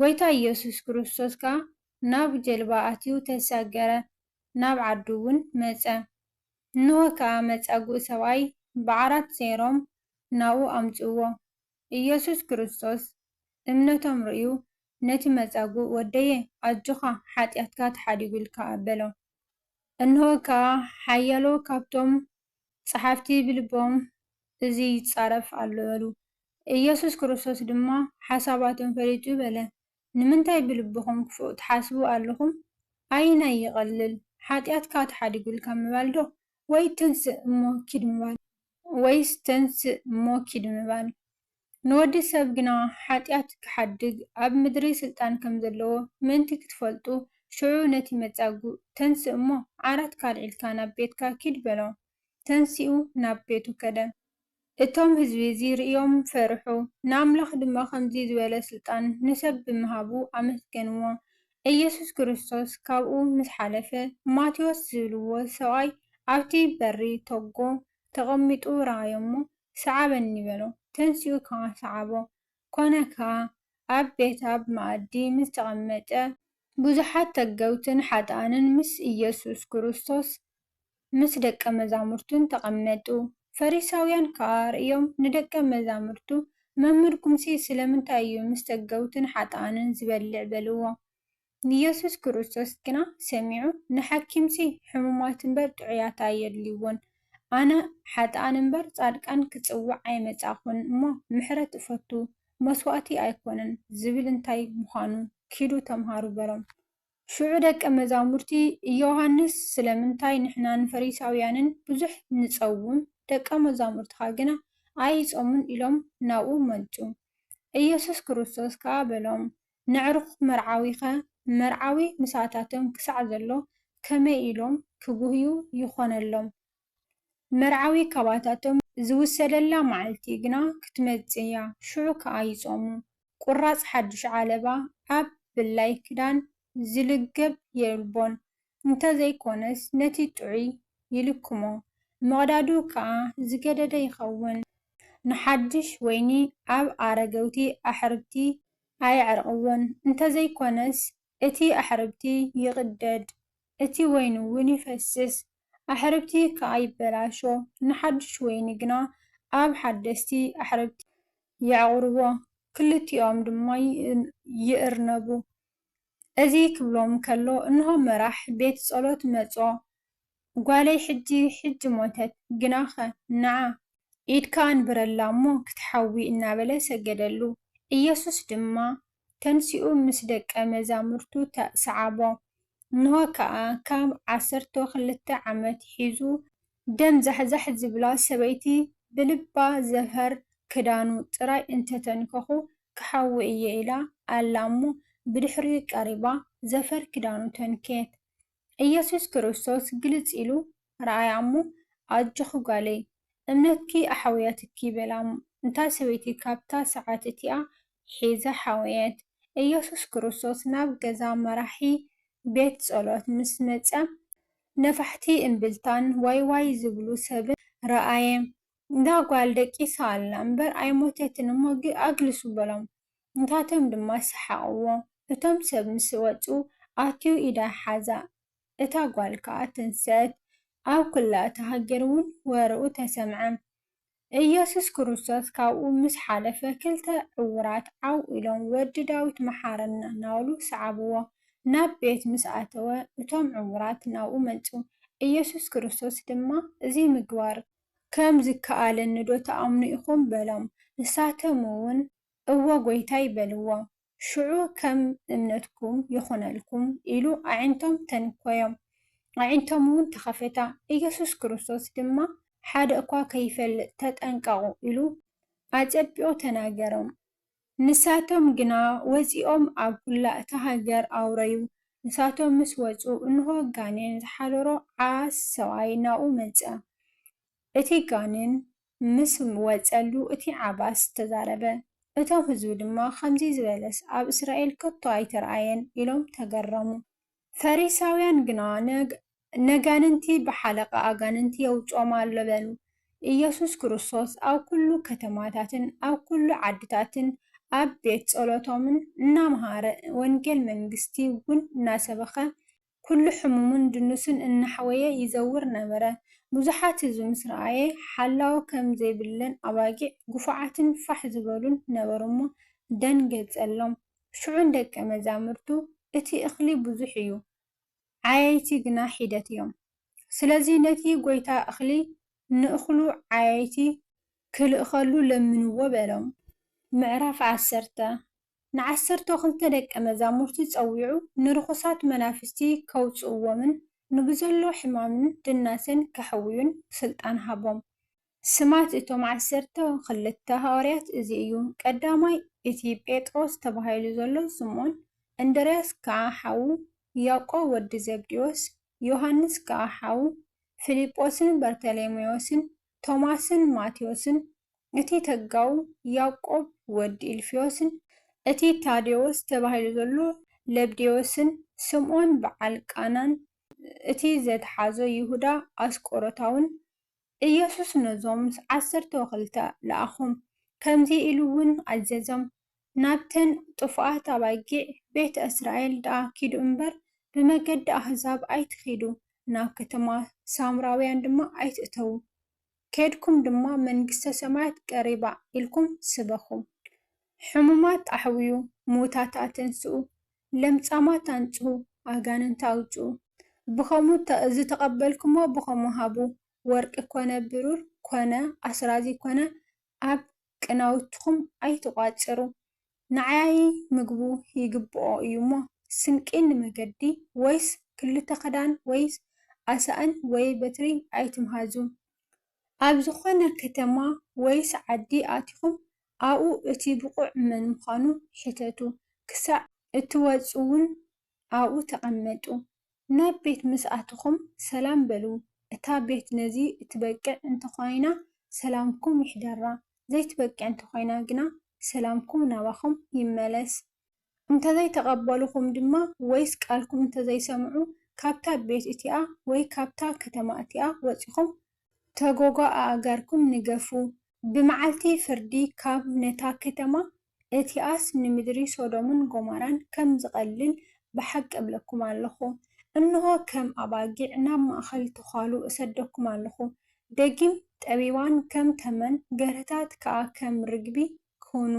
ጐይታ ኢየሱስ ክርስቶስ ከኣ ናብ ጀልባ ኣትዩ ተሳገረ፣ ናብ ዓዱውን መጸ። እንሆ ከኣ መጻጉእ ሰብኣይ ብዓራት ሰይሮም ናብኡ ኣምጽእዎ። ኢየሱስ ክርስቶስ እምነቶም ርእዩ ነቲ መጻጉእ ወደየ ኣጆኻ ሓጢኣትካ ተሓዲጉልካ በሎ። እንሆ ከኣ ሓያሎ ካብቶም ጸሓፍቲ ብልቦም እዚ ይጻረፍ ኣሎ በሉ። ኢየሱስ ክርስቶስ ድማ ሓሳባቶም ፈሊጡ በለ፣ ንምንታይ ብልብኹም ክፉእ ትሓስቡ ኣሎኹም? ኣየናይ ይቐልል፣ ሓጢኣትካ ተሓዲጉልካ ምባል ዶ፣ ወይ ተንስእ እሞ ኪድ ምባል? ወይስ ተንስእ እሞ ኪድ ምባል? ንወዲ ሰብ ግና ሓጢኣት ኪሓድግ ኣብ ምድሪ ሥልጣን ከም ዘለዎ ምእንቲ ክትፈልጡ፣ ሽዑ ነቲ መጻጉእ፣ ተንሥእ እሞ፣ ዓራትካ ኣልዒልካ ናብ ቤትካ ኪድ በሎ። ተንሲኡ ናብ ቤቱ ከደ። እቶም ሕዝቢ እዚ ርእዮም ፈርሑ፣ ንኣምላኽ ድማ ከምዚ ዝበለ ሥልጣን ንሰብ ብምሃቡ ኣመስገንዎ። ኢየሱስ ክርስቶስ ካብኡ ምስ ሓለፈ፣ ማቴዎስ ዝብልዎ ሰብኣይ ኣብቲ በሪ ተጎ። ተቐሚጡ ረኣዮ'ሞ፣ ስዓበኒ በሎ። ተንሲኡ ከኣ ሰዓቦ። ኰነ ከኣ፣ ኣብ ቤት ኣብ መኣዲ ምስ ተቐመጠ፣ ብዙሓት ተገውትን ሓጥኣንን ምስ ኢየሱስ ክርስቶስ ምስ ደቀ መዛሙርቱን ተቐመጡ። ፈሪሳውያን ከኣ ርእዮም ንደቀ መዛሙርቱ፣ መምህርኩምሲ ስለምንታይ እዩ ምስ ተገውትን ሓጥኣንን ዚበልዕ? በልዎ። ንየሱስ ክርስቶስ ግና ሰሚዑ፣ ንሓኪምሲ ሕሙማት እምበር ጥዑያት ኣየድልይዎን፣ ኣነ ሓጥኣን እምበር ጻድቃን ክጽውዕ ኣይመጻእኹን እሞ፣ ምሕረት እፈቱ፣ መስዋእቲ ኣይኮነን ዝብል እንታይ ምዃኑ ኪዱ ተምሃሩ በሎም። ሽዑ ደቀ መዛሙርቲ ዮሃንስ ስለምንታይ ንሕናን ፈሪሳውያንን ብዙሕ ንጸውም፣ ደቀ መዛሙርትኻ ግና ኣይጾሙን ኢሎም ናብኡ መጹ። ኢየሱስ ክርስቶስ ከኣ በሎም፣ ነዕሩኽ መርዓዊኸ መርዓዊ ምስኣታቶም ክሳዕ ዘሎ ከመይ ኢሎም ክጉህዩ ይኾነሎም? መርዓዊ ካባታቶም ዝውሰደላ መዓልቲ ግና ክትመጽእ እያ፣ ሽዑ ከኣ ይጾሙ። ቁራጽ ሓድሽ ዓለባ ኣብ ብላይ ክዳን ዝልገብ የልቦን፣ እንተዘይኮነስ ነቲ ጥዑይ ይልክሞ፣ ምቕዳዱ ከኣ ዝገደደ ይኸውን። ንሓድሽ ወይኒ ኣብ ኣረገውቲ ኣሕርብቲ ኣየዕርቕዎን፣ እንተዘይኮነስ እቲ ኣሕርብቲ ይቕደድ፣ እቲ ወይኒ'ውን ይፈስስ፣ ኣሕርብቲ ከኣ ይበላሾ፣ ንሓድሽ ወይኒ ግና ኣብ ሓደስቲ ኣሕርብቲ። የዕቑርዎ፣ ክልቲኦም ድማ ይእርነቡ፣ እዚ ክብሎም ከሎ እንሆ መራሕ ቤት ጸሎት መጾ ጓለይ ሕጂ ሕጂ ሞተት ግናኸ ነዓ ኢድካ ኣንብረላ እሞ ክትሓዊ እናበለ ሰገደሉ። ኢየሱስ ድማ ተንሲኡ ምስ ደቀ መዛሙርቱ ሰዓቦ። እንሆ ከኣ ካብ ዓሰርተው ክልተ ዓመት ሒዙ ደም ዛሕዛሕ ዝብላ ሰበይቲ ብልባ ዘፈር ክዳኑ ጥራይ እንተተንከኹ ክሓዊ እየ ኢላ ኣላ እሞ ብድሕሪኡ ቀሪባ ዘፈር ክዳኑ ተንከየት ኢየሱስ ክርስቶስ ግልጽ ኢሉ ረኣያ እሞ ኣጆኺ ጓለይ እምነትኪ ኣሕውያትኪ በላ እታ ሰበይቲ ካብታ ሰዓት እቲኣ ሒዛ ሓወየት ኢየሱስ ክርስቶስ ናብ ገዛ መራሒ ቤት ጸሎት ምስ መጸ ነፋሕቲ እምብልታን ዋይ ዋይ ዝብሉ ሰብን ረኣየ። እዛ ጓል ደቂሳ ኣላ እምበር ኣይሞተትን እሞ ኣግልሱ በሎም። ንታቶም ድማ ሰሓቕዎ። እቶም ሰብ ምስ ወጹ ኣትዩ ኢዳ ሓዛ። እታ ጓል ከኣ ተንስኣት። ኣብ ኩላ እታ ሃገር እውን ወረኡ ተሰምዐ። እየሱስ ክርስቶስ ካብኡ ምስ ሓለፈ ክልተ ዕዉራት ዓው ኢሎም ወዲ ዳዊት መሓረና እናበሉ ሰዓብዎ። ናብ ቤት ምስ ኣተወ እቶም ዕዉራት ናብኡ መጹ። እየሱስ ክርስቶስ ድማ እዚ ምግባር ከም ዝከኣለኒዶ ትኣምኑ ኢኹም በሎም። ንሳቶምውን እወ ጐይታይ በልዎ። ሽዑ ከም እምነትኩም ይኹነልኩም ኢሉ ኣዒንቶም ተንኰዮም፣ ኣዒንቶምውን ተኸፈታ። ኢየሱስ ክርስቶስ ድማ ሓደ እኳ ከይፈልጥ ተጠንቀቑ ኢሉ ኣጸቢቑ ተናገሮም። ንሳቶም ግና ወጺኦም ኣብ ኵላ እታ ሃገር ኣውረዩ። ንሳቶም ምስ ወጹ፣ እንሆ ጋኔን ዝሓደሮ ዓስ ሰብኣይ ናብኡ መጸ። እቲ ጋኔን ምስ ወጸሉ እቲ ዓባስ ተዛረበ። እቶም ህዝቢ ድማ ኸምዚ ዝበለስ ኣብ እስራኤል ከቶ ኣይተርኣየን ኢሎም ተገረሙ። ፈሪሳውያን ግና ነጋንንቲ ብሓለቓ ኣጋንንቲ የውጽኦም ኣሎ በሉ። ኢየሱስ ክርስቶስ ኣብ ኵሉ ከተማታትን ኣብ ኵሉ ዓድታትን ኣብ ቤት ጸሎቶምን እናመሃረ ወንጌል መንግስቲ እውን እናሰበኸ ኩሉ ሕሙሙን ድኑሱን እናሕወየ ይዘውር ነበረ። ብዙሓት እዚ ምስ ረኣየ ሓላው ከም ዘይብለን ኣባጊዕ ግፉዓትን ፋሕ ዝበሉን ነበሩ'ሞ ደንገጸሎም። ሽዑ ንደቀ መዛሙርቱ እቲ እኽሊ ብዙሕ እዩ፣ ዓየይቲ ግና ሒደት እዮም። ስለዚ ነቲ ጐይታ እኽሊ ንእኽሉ ዓየይቲ ክልእኸሉ ለምንዎ በሎም። ምዕራፍ ዓሰርተ፣ ንዓሰርተው ክልተ ደቀ መዛሙርቲ ጸዊዑ ንርኹሳት መናፍስቲ ከውጽእዎምን ንብዘሎ ሕማምን ድናሰን ከሕውዩን ስልጣን ሃቦም። ስማት እቶም ዓሰርተ ክልተ ሃዋርያት እዚ እዩ፣ ቀዳማይ እቲ ጴጥሮስ ተባሂሉ ዘሎ ስምኦን፣ እንድርያስ ከኣ ሓዉ፣ ያቆብ ወዲ ዘብዴዎስ፣ ዮሃንስ ከኣ ሓዉ፣ ፊልጶስን በርተሌሜዎስን፣ ቶማስን ማቴዎስን፣ እቲ ተጋው ያቆብ ወድ ኢልፍዮስን፣ እቲ ታዴዎስ ተባሂሉ ዘሎ ለብዴዎስን፣ ስምዖን ብዓል ቃናን፣ እቲ ዘትሓዞ ይሁዳ ኣስቆሮታውን፣ ኢየሱስ ነዞም ዓሰርተው ክልተ ለኣኾም፣ ከምዚ ኢሉውን ኣዘዞም፣ ናብተን ጥፉኣት ኣባጊዕ ቤት እስራኤል ደኣ ኪዱ እምበር፣ ብመገዲ ኣህዛብ ኣይትኺዱ፣ ናብ ከተማ ሳምራውያን ድማ ኣይትእተዉ፣ ኬድኩም ድማ መንግስተ ሰማያት ቀሪባ ኢልኩም ስበኹ። ሕሙማት ኣሕውዩ፣ ምዉታት ኣተንስኡ፣ ለምጻማት ኣንጽሁ፣ ኣጋንንቲ ኣውጽኡ። ብኸምኡ ዝተቐበልኩምዎ ብኸምኡ ሃቡ፣ ወርቂ ኰነ ብሩር ኰነ ኣስራዚ ኰነ ኣብ ቅናውትኹም ኣይትቋጽሩ። ንዓያዪ ምግቡ ይግብኦ እዩሞ፣ ስንቂ ንመገዲ ወይስ ክልተ ክዳን ወይ ኣሳእን ወይ በትሪ ኣይትምሃዙ። ኣብ ዝኾነ ከተማ ወይስ ዓዲ ኣቲኹም ኣብኡ እቲ ብቑዕ መን ምዃኑ ሕተቱ፣ ክሳዕ እትወጽኡውን ኣብኡ ተቐመጡ። ናብ ቤት ምስ ኣተኹም ሰላም በሉ፣ እታ ቤት ነዚ እትበቅዕ እንተ ኾይና ሰላምኩም ይሕደራ፣ ዘይትበቅዕ እንተ ኾይና ግና ሰላምኩም ናባኹም ይመለስ። እንተ ዘይተቐበሉኹም ድማ ወይስ ቃልኩም እንተ ዘይሰምዑ ካብታ ቤት እቲኣ ወይ ካብታ ከተማ እቲኣ ወጺኹም ተጎጎ ኣእጋርኩም ንገፉ፣ ብመዓልቲ ፍርዲ ካብ ነታ ከተማ እቲኣስ ንምድሪ ሶዶምን ጎሞራን ከም ዝቐልል ብሓቂ እብለኩም ኣሎኹ። እንሆ፣ ከም ኣባጊዕ ናብ ማእከል ተዃሉ እሰደኩም ኣሎኹ። ደጊም፣ ጠቢባን ከም ተመን፣ ገርህታት ከኣ ከም ርግቢ ኪኹኑ።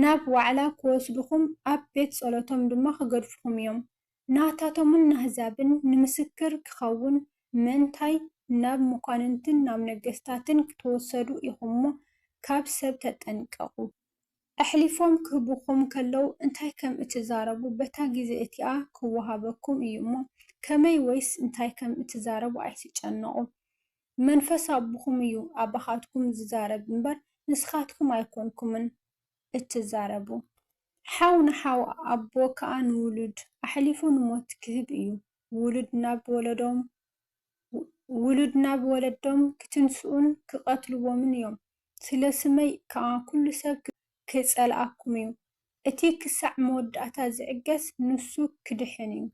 ናብ ዋዕላ ኪወስዱኹም፣ ኣብ ቤት ጸሎቶም ድማ ኪገድፉኹም እዮም። ናታቶምን ናህዛብን ንምስክር ኪኸውን፣ ምእንታይ ናብ መኳንንትን ናብ ነገስታትን ክትወሰዱ ኢኹም'ሞ፣ ካብ ሰብ ተጠንቀቑ። ኣሕሊፎም ኪህቡኹም ከለዉ እንታይ ከም እትዛረቡ፣ በታ ጊዜ እቲኣ ኪወሃበኩም እዩ'ሞ፣ ከመይ ወይስ እንታይ ከም እትዛረቡ ኣይትጨነቑ። መንፈስ ኣቦኹም እዩ ኣባኻትኩም ዚዛረብ'ምበር፣ ንስኻትኩም ኣይኮንኩምን እትዛረቡ። ሓው ንሓው ኣቦ ከኣ ንውሉድ ኣሕሊፉ ንሞት ክህብ እዩ። ውሉድ ናብ ወለዶም ውሉድ ናብ ወለዶም ክትንስኡን ክቐትልዎምን እዮም። ስለ ስመይ ከኣ ኩሉ ሰብ ክጸልኣኩም እዩ። እቲ ክሳዕ መወዳእታ ዝዕገስ ንሱ ክድሕን እዩ።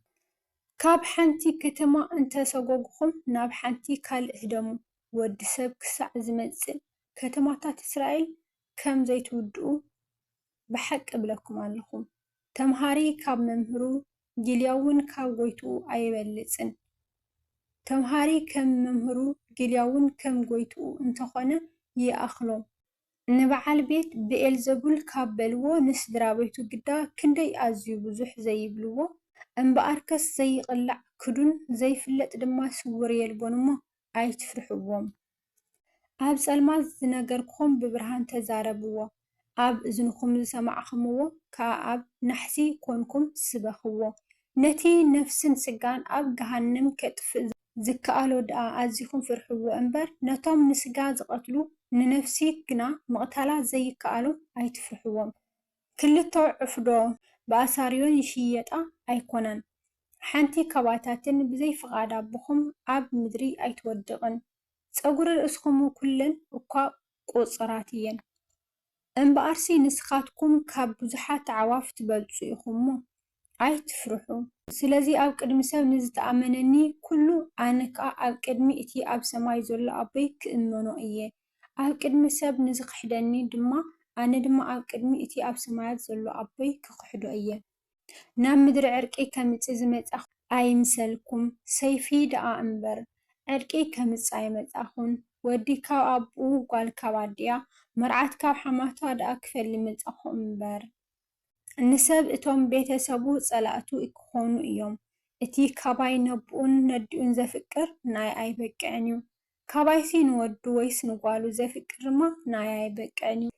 ካብ ሓንቲ ከተማ እንተ ሰጐጕኹም ናብ ሓንቲ ካልእ ህደሙ። ወዲ ሰብ ክሳዕ ዝመጽእ ከተማታት እስራኤል ከም ዘይትውድኡ ብሓቂ እብለኩም ኣሎኹ፣ ተምሃሪ ኻብ መምህሩ፣ ጊልያ'ውን ካብ ጐይትኡ ኣይበልጽን። ተምሃሪ ኸም መምህሩ፣ ጊልያ'ውን ከም ጐይትኡ እንተ ዀነ፣ ይኣኽሎም። ንብዓል ቤት ብኤልዘቡል ካብ በልዎ፣ ንስድራ ቤቱ ግዳ ክንደይ ኣዝዩ ብዙሕ ዘይብልዎ? እምብኣርከስ ዘይቕላዕ ክዱን ዘይፍለጥ ድማ ስዉር የልቦን እሞ፣ ኣይትፍርሕዎም። ኣብ ጸልማት ዝነገርክኹም ብብርሃን ተዛረብዎ፣ ኣብ እዝንኹም ዝሰማዕክምዎ ከኣ ኣብ ናሕሲ ኰንኩም ስበኽዎ። ነቲ ነፍስን ስጋን ኣብ ገሃንም ኬጥፍእ ዚከኣሎ ደኣ ኣዚኹም ፍርሕዎ እምበር፣ ነቶም ንስጋ ዚቐትሉ፣ ንነፍሲ ግና ምቕታላ ዘይከኣሎም ኣይትፍርሕዎም። ክልተ ዕፍዶ ብኣሳርዮን ይሽየጣ ኣይኮናን ሓንቲ ካባታትን ብዘይ ፍቃድ ኣቦኹም ኣብ ምድሪ ኣይትወድቅን ጸጉሪ ርእስኹም ኩለን እኳ ቁጽራት እየን እምብኣርሲ ንስኻትኩም ካብ ብዙሓት ኣዕዋፍ ትበልጹ ኢኹምሞ ኣይትፍርሑ። ስለዚ ኣብ ቅድሚ ሰብ ንዝተኣመነኒ ኵሉ፣ ኣነ ከኣ ኣብ ቅድሚ እቲ ኣብ ሰማይ ዘሎ ኣቦይ ክእመኖ እየ። ኣብ ቅድሚ ሰብ ንዝኽሕደኒ ድማ፣ ኣነ ድማ ኣብ ቅድሚ እቲ ኣብ ሰማያት ዘሎ ኣቦይ ክኽሕዶ እየ። ናብ ምድሪ ዕርቂ ከምጽእ ዝመጻኹ ኣይምሰልኩም፣ ሰይፊ ደኣ እምበር፣ ዕርቂ ከምጽእ ኣይመጻኹን። ወዲ ካብ ኣቦኡ፣ ጓል ካብ ኣዲኣ፣ መርዓት ካብ ሓማታ ደኣ ክፈሊ መጻኹ እምበር። ንሰብ እቶም ቤተ ሰቡ ጸላእቱ ክኾኑ እዮም። እቲ ካባይ ነቡኡን ነዲኡን ዘፍቅር ናይ ኣይበቅዕን እዩ። ካባይሲ ንወዱ ወይስ ንጓሉ ዘፍቅርማ ንኣይ ኣይበቅዕን እዩ።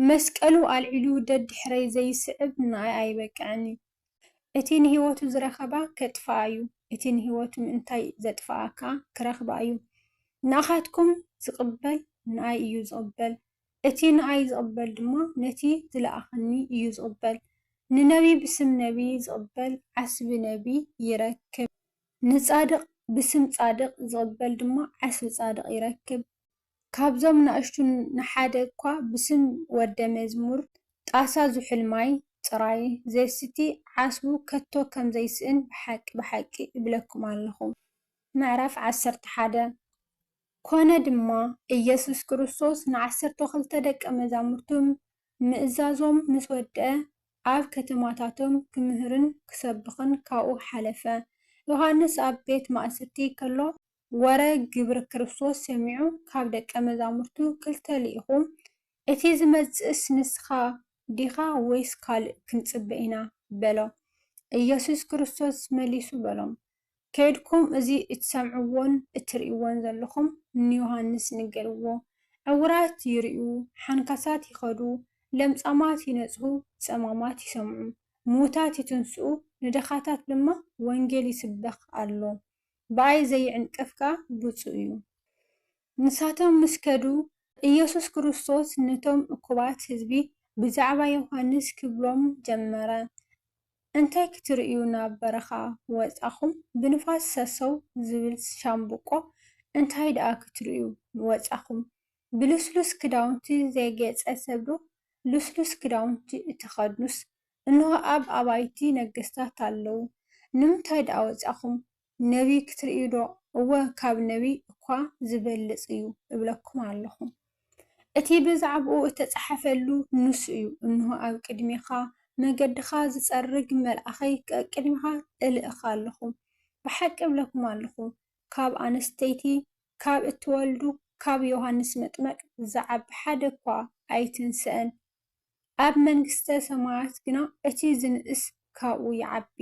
መስቀሉ ኣልዒሉ ደድሕረይ ዘይስዕብ ንኣይ ኣይበቅዕን እዩ። እቲ ንህይወቱ ዝረኸባ ከጥፍኣ እዩ፣ እቲ ንህይወቱ ምእንታይ ዘጥፍኣ ከኣ ክረኽባ እዩ። ንኣኻትኩም ዝቕበል ንኣይ እዩ ዝቕበል። እቲ ንኣይ ዝቕበል ድማ ነቲ ዝለኣኸኒ እዩ ዝቕበል። ንነብዪ ብስም ነብዪ ዝቕበል ዓስቢ ነብዪ ይረክብ። ንጻድቕ ብስም ጻድቕ ዝቕበል ድማ ዓስቢ ጻድቕ ይረክብ። ካብዞም ናእሽቱ ንሓደ እኳ ብስም ወደ መዝሙር ጣሳ ዝሑል ማይ ጥራይ ዜስቲ ዓስቡ ከቶ ከም ዘይስእን ብሓቂ ብሓቂ እብለኩም ኣለኹ። ምዕራፍ ዓሰርተ ሓደ ኰነ ድማ፣ ኢየሱስ ክርስቶስ ንዓሰርተ ኽልተ ደቀ መዛሙርቱ ምእዛዞም ምስ ወድአ፣ ኣብ ከተማታቶም ኪምህርን ኪሰብኽን ካብኡ ሓለፈ። ዮሃንስ ኣብ ቤት ማእሰርቲ ከሎ፣ ወረ ግብሪ ክርስቶስ ሰሚዑ ኻብ ደቀ መዛሙርቱ ክልተ ልኢኹ፣ እቲ ዚመጽእስ ንስኻ ዲኻ ወይስ ካልእ ክንጽበ ኢና? በሎ። ኢየሱስ ክርስቶስ መሊሱ በሎም፣ ከይድኩም እዚ እትሰምዕዎን እትርእይዎን ዘለኹም ንዮሃንስ ንገርዎ። ዕውራት ይርእዩ፣ ሓንካሳት ይኸዱ፣ ለምጻማት ይነጽሁ፣ ጸማማት ይሰምዑ፣ ምዉታት ይትንስኡ፣ ንድኻታት ድማ ወንጌል ይስበኽ ኣሎ። ብኣይ ዘይዕንቀፍ ከኣ ብጹእ እዩ። ንሳቶም ምስ ከዱ፣ ኢየሱስ ክርስቶስ ነቶም እኩባት ህዝቢ ብዛዕባ ዮሃንስ ክብሎም ጀመረ፣ እንታይ ክትርእዩ ናብ በረኻ ወጻኹም ብንፋስ ሰሰው ዝብል ሻምብቆ እንታይ ድኣ ክትርእዩ ወጻኹም ብልስሉስ ክዳውንቲ ዘጌጸ ሰብዶ ልስሉስ ክዳውንቲ እትኸድኑስ እንሆ ኣብ ኣባይቲ ነገስታት ኣለው ንምንታይ ድኣ ወጻኹም ነቢይ ክትርእዩዶ? እወ፣ ካብ ነቢይ እኳ ዚበልጽ እዩ እብለኩም ኣሎኹ። እቲ ብዛዕባኡ እተጻሕፈሉ ንሱ እዩ፣ እንሆ፣ ኣብ ቅድሜኻ መገድኻ ዚጸርግ መልኣኸይ ቀቅድሜኻ እልእኽ ኣሎኹ። ብሓቂ እብለኩም ኣሎኹ፣ ካብ ኣንስተይቲ፣ ካብ እትወልዱ፣ ካብ ዮሃንስ መጥመቅ ዚዓቢ ሓደ እኳ ኣይትንሰእን፣ ኣብ መንግሥተ ሰማያት ግና እቲ ዚንእስ ካብኡ ይዓቢ።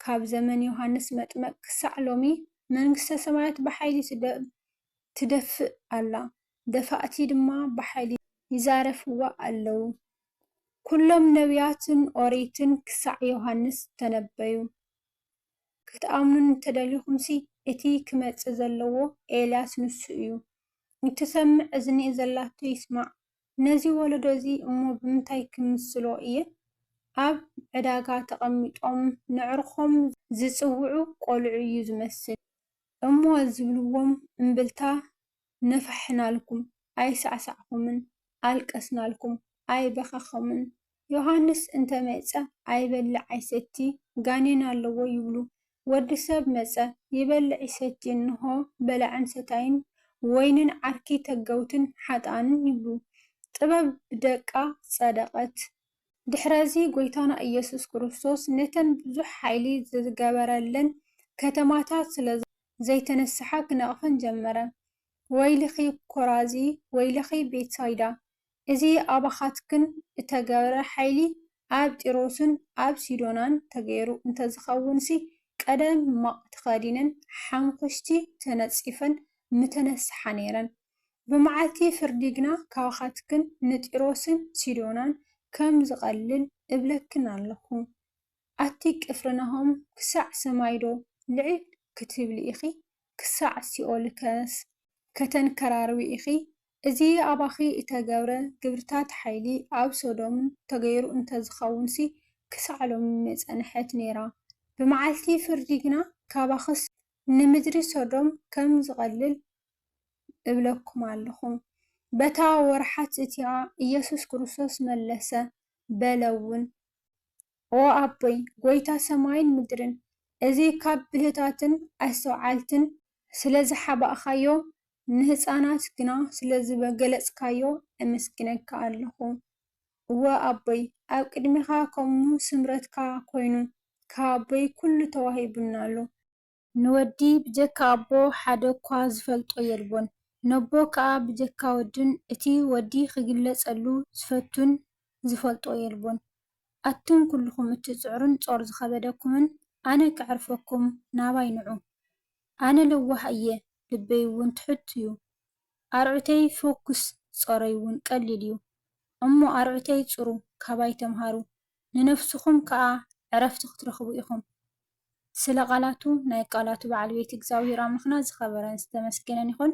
ካብ ዘመን ዮሃንስ መጥመቅ ክሳዕ ሎሚ መንግስተ ሰማያት ብሓይሊ ትደፍእ ኣላ ደፋእቲ ድማ ብሓይሊ ይዛረፍዋ ኣለዉ። ኩሎም ነብያትን ኦሪትን ክሳዕ ዮሃንስ ተነበዩ። ክትኣምኑኒ እንተደሊኹምሲ እቲ ክመጽእ ዘለዎ ኤልያስ ንሱ እዩ። እትሰምዕ እዝኒ ዘላቶ ይስማዕ። ነዚ ወለዶ እዚ እሞ ብምንታይ ክምስሎ እየ? ኣብ ዕዳጋ ተቐሚጦም ነዕርኾም ዝጽውዑ ቈልዑ እዩ ዝመስል። እሞ ዝብልዎም እምብልታ ነፋሕናልኩም፣ ኣይሳዕሳዕኩምን፣ ኣልቀስናልኩም፣ ኣይበኸኹምን፣ ዮሃንስ እንተ መጸ ኣይበልዕ ኣይሰቲ ጋኔን ኣለዎ ይብሉ ወዲ ሰብ መጸ ይበልዕ ይሰቲ እንሆ በላዕን ሰታይን ወይንን ዓርኪ ተገውትን ሓጥኣንን ይብሉ ጥበብ ብደቃ ጸደቀት ድሕረዚ ጎይታና እየሱስ ክርስቶስ ነተን ብዙሕ ሓይሊ ዝገበረለን ከተማታት ስለ ዘይተነስሓ ክነቅፈን ጀመረ ወይልኺ ኮራዚ ወይልኺ ቤትሳይዳ እዚ ኣባኻትክን እተገብረ ሓይሊ ኣብ ጢሮስን ኣብ ሲዶናን ተገይሩ እንተዝኸውንሲ፣ ቀደም ማቕ ተኸዲነን ሓሙኹሽቲ ተነጺፈን ምተነስሓ ነይረን። ብመዓልቲ ፍርዲ ግና ካባኻትክን ንጢሮስን ሲዶናን ከም ዝቐልል እብለክን ኣሎኹ። ኣቲ ቅፍርናሆም ክሳዕ ሰማይዶ ልዕል ክትብሊ ኢኺ? ክሳዕ ሲኦልከስ ከተንከራርዊ ኢኺ? እዚ ኣባኺ እተገብረ ግብርታት ሓይሊ ኣብ ሶዶም ተገይሩ እንተ ዝኸውንሲ ክሳዕ ሎሚ ምጸንሐት ነይራ። ብመዓልቲ ፍርዲ ግና ካባኽስ ንምድሪ ሶዶም ከም ዝቐልል እብለኩም ኣሎኹ። በታ ወርሓት እቲኣ ኢየሱስ ክርስቶስ መለሰ በለውን። ኦ ኣቦይ ጐይታ ሰማይን ምድርን እዚ ካብ ብልህታትን ኣስተውዓልትን ስለ ዝሓባእካዮ ንህጻናት ግና ስለ ዝበገለጽካዮ ኤመስግነካ ኣለኩ እወ ኣቦይ ኣብ ቅድሜካ ከምኡ ስምረትካ ኮይኑ ካብ ኣቦይ ኩሉ ተዋሂቡኒ ኣሎ ንወዲ ብጀካ ኣቦ ሓደ እኳ ዝፈልጦ የልቦን ነቦ ከኣ ብጀካ ወዱን እቲ ወዲ ክግለጸሉ ዝፈቱን ዝፈልጦ የልቦን ኣቱም ኩሉኹም እትጽዕሩን ጾር ዝኸበደኩምን ኣነ ከዕርፈኩም ናባይ ንዑ። ኣነ ለዋህ እየ ልበይ ውን ትሑት ዩ ኣርዑተይ ፎኩስ ጾረይ ውን ቀሊል ዩ እሞ ኣርዑተይ ጽሩ ካባይ ተምሃሩ ንነፍስኹም ከኣ ዕረፍቲ ክትረኽቡ ኢኹም ስለ ቃላቱ ናይ ቃላቱ በዓል ቤት እግዛብሄር ኣምላኽና ዝኸበረን ዝተመስገነን ይኹን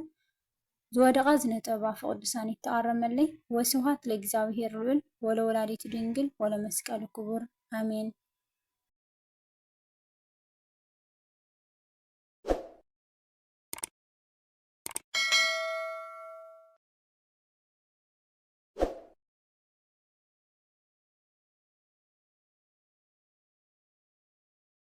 ዝወደቓ ዝነጠባ ፍቅዱሳን ይተኣረመለይ ወስብሃት ለእግዚኣብሔር ልዑል ወለወላዲቱ ድንግል ወለመስቀሉ ክቡር ኣሜን።